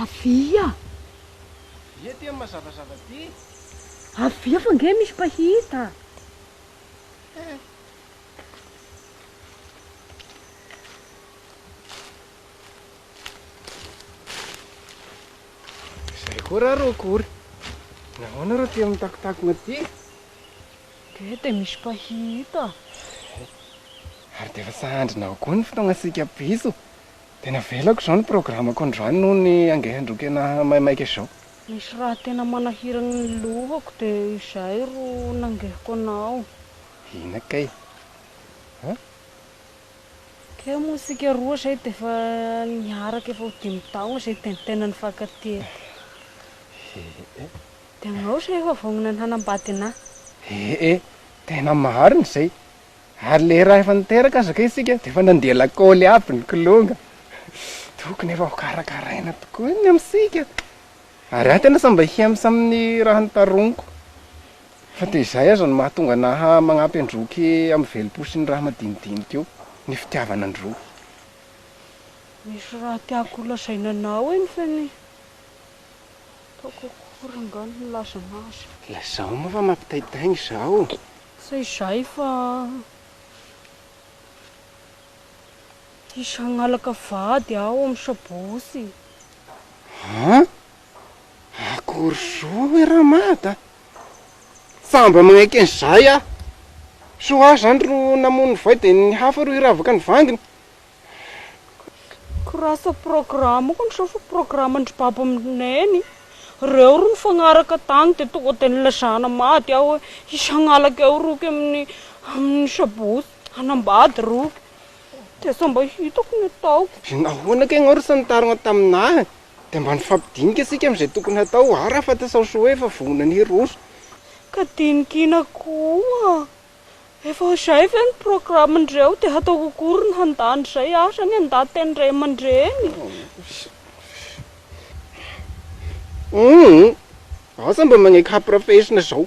Avia aty amin'ny mazavazava aty. Avia fa ange misy mpahita. Izay koa ra rô akory. Nahoana rô tia mitakotakona ty? Dia dia misy mpahita. Ary dia efa sahandrinao koa ny fotoagnantsika bisous. Tena avelako izao ny programme-ko androany noho ny angain-droa-kena maimaika izao. Misy raha tena manahirana ny lohako dia izay ro nangehiko anao. Hina kay a! Teo moa isika roa izay dia efa niaraka efa ho dimy taona izay Tintin nifankatia eto. He e! Dia angao izay efa vonona ny hanambady anà. He e! Tena marina izay. Ary ilay iray efa niteraka aza kay isika dia efa nandeha lakoly aby ny kilonga. Tokony efa ho karakaraina tokoa ny amintsika. Ary aho tena sambahia misamin'ny raha notaroniko. Fa dia izay aza no mahatonga na manampy an'i Roky amin'ny velom-po sy ny raha madinidinika eo, ny fitiavana an'i Roky. Misy raha tiako ho lazaina anao eny fa ny ataoko akory nga no hilazana azy. Lazao moa fa mampitaitaina izao. Tsy izay fa hisy hangalaka vady aho amin'ny sabotsy. An? Akory zo oe Ramad a! Fa mba magnaiky an'izay aho. Soa aho zany ro namono ny voay dia ny hafa ro hiravaka ny vanginy. Grâce programme kony sao fa programme ndry baba amindry neny. Reo ro nifagnaraka tagny dia tonga dia nilazana maty aho oe hisagnalaka eo roky amin'ny amin'ny sabotsy hanambady roky. Dia sao mba hitako ny ataoko. Nahoana kay ianao ro tsy nitarogna taminah Dia mba nifampidinika isika amin'izay tokony hatao ary afata sao soa efa vonoina ny roso. Ka dinikina koa. Efa izay ve ny programme-ndreo dia hataoko akory ny handà an'izay aza ny andatin-dray aman-dreny? Humm! Asa mba maneky hampirafesina izao.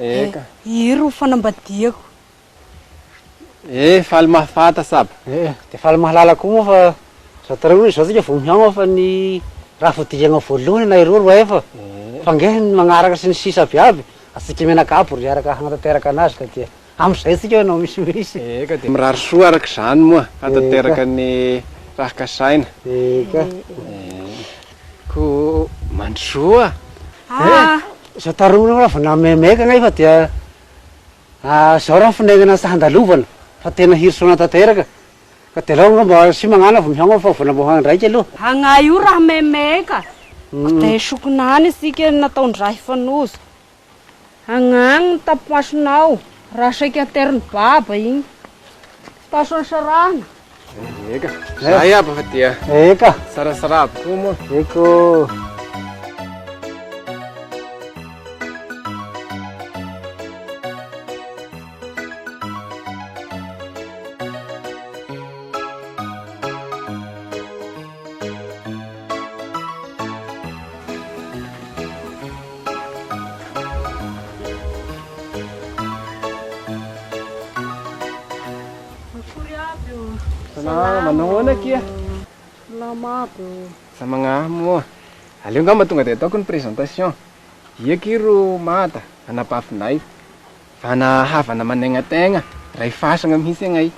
Eka. Iry ro fanambadiako. E, faly mahafanta saba. E, dia faly mahalala koa moa fa izao tara hono izao tsika vao mihaofa ny raha fodianao voalohany na iroa roa efa. Fa ange ny magnaraka sy ny sisa aby aby, atsika mianakavy ro hiaraka hanatanteraka anazy ka dia Amin'izay isika no misimisy. Eka dia mirary soa araka izany moa hatateraka ny raha kasaina. Eka. Koa mandrosoa a! Izao tarominao raha vao namaimaika nefa dia izao raha finainana sy handalovana fa tena hirosoana tanteraka. Ka dia aleo angamba asia mañana vao mihaona fa vao namboahana indray ity aloha. Agnay io raha maimaika. Ka dia esokina any isika ny nataon-dRahy Fanozo. Agna agny ny tapimasonao raha saika ateriny baba igny. Fitaosany sarahana. Eka. Zay aby fa dia. Eka. Sarasara aby koa moa. Eko. Akory aby ô. Salama, manao ahoana akia? Salama aby ô. Za magnahama ô. Aleo angamba tonga dia ataoko ny présentation. Ia akia ro Mada, anabavinay. Vana havana manaigna tegna, ray fasagna mihitsy agnay.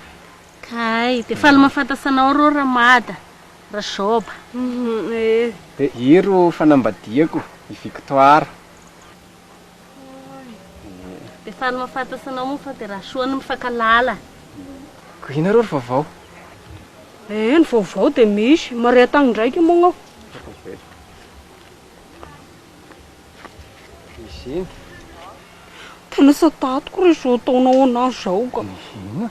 Kay, dia faly mahafantatsa anao rô Ramada. Rajoba. Dia i ro fanambadiako i Victoire. Dia faly mahafatasa anao moa fa dia Rasoa no mifankalala. Ko inona ro ry vaovao? Eh ny vaovao dia misy, maria tagny ndraiky moa ngao. Misy iny. Tena satatiko re zao ataonao anah zao ka. Inona?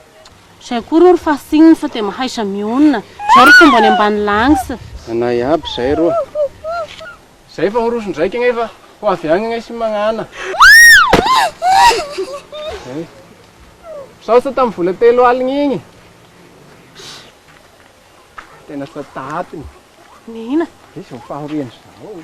Zay koa rô ry fasting fa de mahaiza mionona. Zao ry fomba any ambany langs. Anay aby zay rô. Zay fa miroso ndraiky agnay fa ho avy agny agnay sy magnana. Misaotra tamin'ny vola telo aligny igny. Tena sata atiny. Nihina. Izy ny fahoriany zao.